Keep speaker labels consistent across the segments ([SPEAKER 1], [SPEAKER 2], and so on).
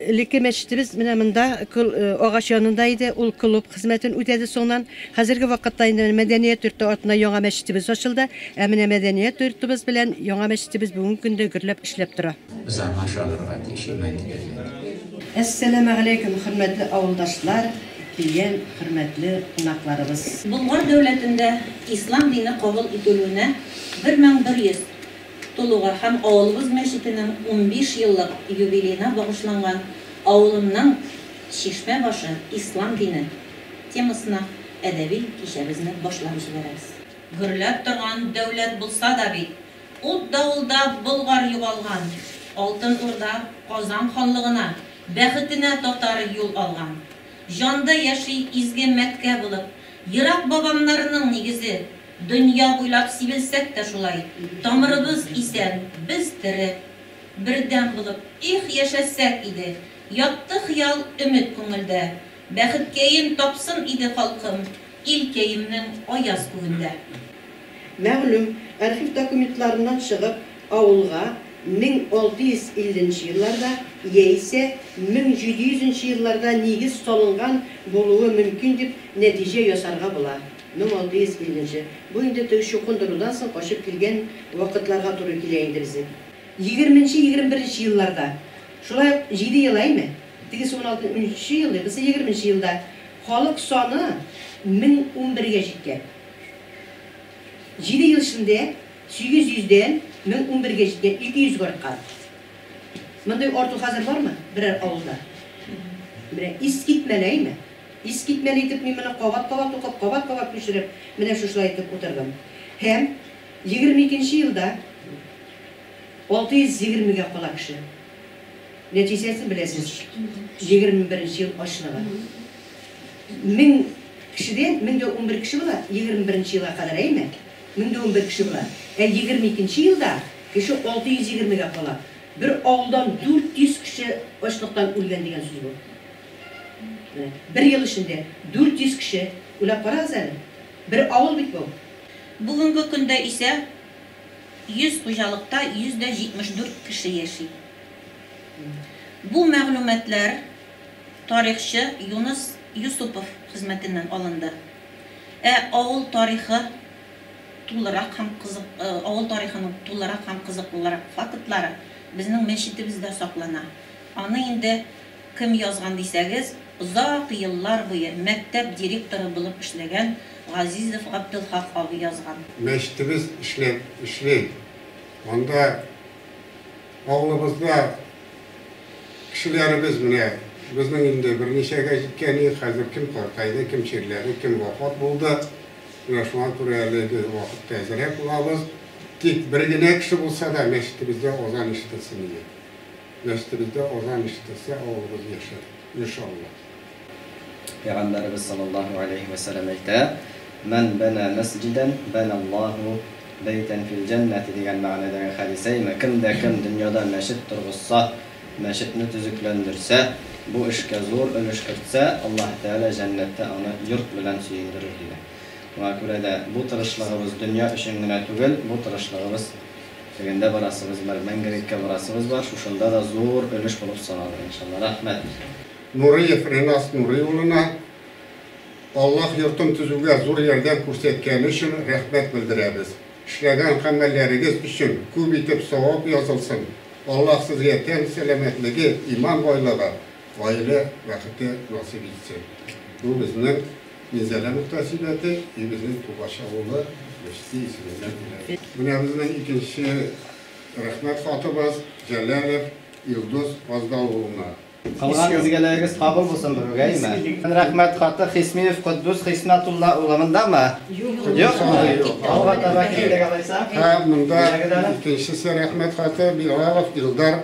[SPEAKER 1] Элекке мәчетебез менә монда агач янында иде. Ул клуб хезмәтен үтәде соңнан. Хәзерге вакытта инде мәдәният йорты артына яңа мәчетебез ачылды. Ә менә мәдәният йортыбыз белән яңа мәчетебез бүгенге көндә гөрләп эшләп тора. Без аңа ышанырга
[SPEAKER 2] тиеш, иман итәргә кирәк.
[SPEAKER 1] Әссәламегаләйкүм, хөрмәтле авылдашлар! Дигән хөрмәтле кунакларыбыз. Болгар дәүләтендә
[SPEAKER 3] ислам дине кабул ителүенә 1100 тулуга һәм авылыбыз мәчетенең унбиш еллык юбилеена багышланган Авылымның чишмә башы, ислам дине темасына әдәби кичәбезне башлап җибәрәбез. Гөрләп торган дәүләт булса да бит, Ут-давылда Болгар югалган. Алтын Урда, Казан ханлыгына, Бәхетенә татар юл алган. Җанда яши изге мәткә булып, Ерак бабамнарның нигезе. Дөнья буйлап сибелсәк тә шулай, Тамырыбыз исән, без тере. Бердәм булып, их, яшәсәк иде! Ятты хыял, өмет күңелдә. Бәхеткәен тапсын иде халкым Ил кәемнең аяз күгендә.
[SPEAKER 1] Мәгълүм архив документларыннан чыгып, авылга 1650 нче елларда яисә 1700 нче елларда нигез салынган булуы мөмкин дип нәтиҗә ясарга була, 1650 нче, бу инде теге чукындырудан соң качып килгән вакытларга туры килә инде безнең. Егерменче-егерме беренче елларда, шулай ук җиде ел, әйме? Тегесе уналтынчы елда, берсе егерменче елда. Халык саны мең унбергә җиткән. Җиде ел эчендә сигез йөздән мең унбергә җиткән, ике йөзгә арткан. Мондый арту хәзер бармы берәр авылда? Менә искитмәле әйме? Искитмәле итеп мин моны кабат-кабат укып, кабат-кабат күчереп, менә шушылай итеп утырдым. Һәм егерме икенче елда алты йөз егермегә кала кеше. Нәтиҗәсен беләсез, егерме беренче ел ачлыгы. Мең кешедән мең дә унбер кеше була, егерме беренче елга кадәр, әйеме? Мең дә унбер кеше була. Ә егерме икенче елда кеше алты йөз егермегә кала. Бер авылдан дүрт йөз кеше ачлыктан үлгән дигән сүз бу. Менә бер ел эчендә дүрт йөз кеше, уйлап карагыз әле. Бер авыл бит бу. Бүгенге
[SPEAKER 3] көндә исә 100 хуҗалыкта 174 кеше яши. Бу мәгълүматлар тарихчы Юныс Юсупов хезмәтеннән алынды. Ә авыл тарихы тулырак һәм кызык авыл тарихының тулырак һәм кызыклырак фактлары безнең мәчетебездә саклана. Аны инде Кем язган дисәгез, озак еллар буе мәктәп директоры булып эшләгән Газизов Габделхак абый язган. Мәчетебез
[SPEAKER 4] эшләп эшли. Анда авылыбызда кешеләребез менә безнең инде берничәгә җиткәни, хәзер кем картайды, кем чирләде, кем вафат булды. Менә шуңа күрә әлеге вакытта әзрәк булабыз. Тик бер генә кеше булса да мәчетебездә азан ишетелсен иде. Нәслебездә азан ишетелсә, авылыбыз яшәр, иншаллаһ.
[SPEAKER 5] Пәйгамбәребез саллаллаһу галәйһи вә сәлам әйтә, Мән бәнә мәсҗидән, бәнә Аллаһу бәйтән фил җәннәти дигән мәгънәдәге хәдисәйме, кем дә кем дөньяда мәчет торгызса, мәчетне төзекләндерсә, бу эшкә зур өлеш кертсә, Аллаһ Тәгалә җәннәттә аны йорт белән сөендерер, дигән. Шуңа күрә дә бу тырышлыгыбыз дөнья өчен генә түгел, бу тырышлыгыбыз. Тегендә барасыбыз бар, Мәңгелеккә барасыбыз бар, шушында да зур өлеш булып саналыр, иншалла. Рәхмәт. Нуриев
[SPEAKER 4] Ренас Нурый улына Аллаһ йортын төзүгә зур ярдәм күрсәткәне өчен рәхмәт белдерәбез. Эшләгән гамәлләрегез өчен күп итеп савап язылсын, Аллаһ сезгә тән сәламәтлеге, иман байлыгы, Гаилә бәхете насыйп итсен. Бу безнең Минзәлә мөхтәсибәте и безнең Тубаш авылы Мешти исеменнән килә. Менә безнең икенче рәхмәт хатыбыз Җәләлов Илдус Фаздал улына. Кылган
[SPEAKER 5] изгелегегез кабул булсын, Бөрүгәймә. Рәхмәт хаты Хисмиев Котдус Хисмәтулла улы мондамы? Юкмы? Алга таба киттек алайса. Һәм монда
[SPEAKER 4] икенчесе рәхмәт хаты Билалов Илдар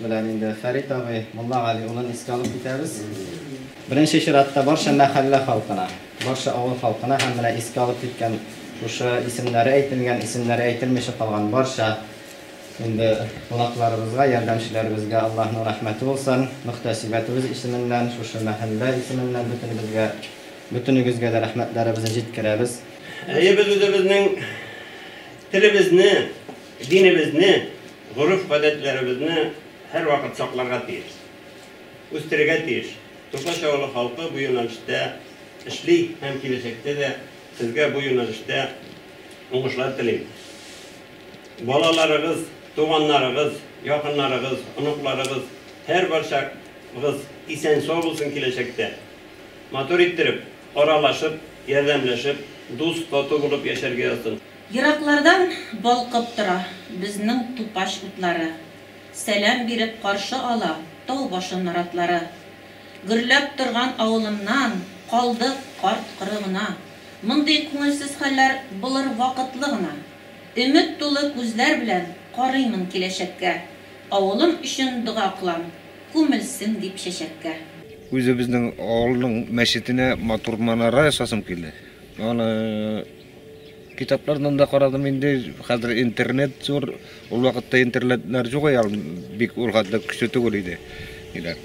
[SPEAKER 5] Белән инде Фәрит абый Муллагали улын искә алып китәбез. Беренче чиратта барча мәхәллә халкына, барча авыл халкына һәм менә искә алып киткән шушы исемнәре әйтелгән, исемнәре әйтелмичә калган барча инде кунакларыбызга, ярдәмчеләребезгә Аллаһның рәхмәте булсын. Мөхтәсибәтебез исеменнән, шушы мәхәллә исеменнән бөтенебезгә, бөтенегезгә дә рәхмәтләребезне җиткерәбез. Әйе, без
[SPEAKER 6] үзебезнең телебезне, Динебезне, гореф-гадәтләребезне һәрвакыт сакларга тиеш. Үстерергә тиеш. Тукач авылы халкы бу юнәлештә эшли һәм киләчәктә дә сезгә бу юнәлештә уңышлар телим. Балаларыгыз, туганнарыгыз, якыннарыгыз, оныкларыгыз, һәрбарчагыз исән-сау булсын киләчәктә. Матур иттереп, аралашып, ярдәмләшеп, дус-тату булып яшәргә язсын. Ераклардан
[SPEAKER 3] балкып тора безнең тупач утлары, Сәлам биреп каршы ала тау башы наратлары. Гөрләп торган авылымнан калдык карт-коры гына, Мондый күңелсез хәлләр булыр вакытлы гына. Өмет тулы күзләр белән карыймын киләчәккә, Авылым өчен дога кылам, күмелсен дип чәчәккә. Үзебезнең
[SPEAKER 7] авылның мәчетенә матур манара ясасым килә. Аны Китаплардан да карадым инде, хәзер интернет зур, ул вакытта интернетлар юк иде, ул бик ул хәтле көчле түгел иде. Диләр.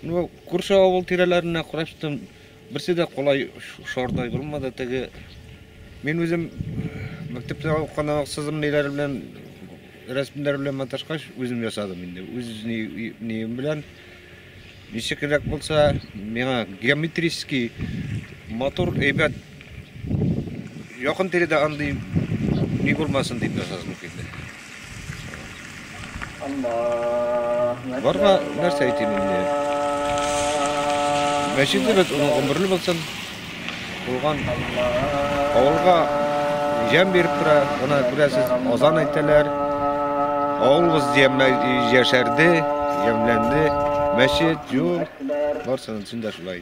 [SPEAKER 7] Ну, күрше авыл тирәләренә караштым, берсе дә кулай шардай булмады, теге мин үзем мәктәптә укыганда сызым ниләр белән рәсемнәр белән маташкач, үзем ясадым инде. Үз ни, нием белән Ничек эләк булса, миңа геометрический матур, әйбәт, якын тирәдә андый ни булмасын дип ясадым килде. Барга нәрсә әйтим инде? Мәчетебез оныгы гомерле булсын. Булган авылга җәм биреп тора, гына күрәсез, азан әйтәләр. Авылыбыз яшәрде, ямьләнде, мәчет, юл, барсының өчен дә шулай.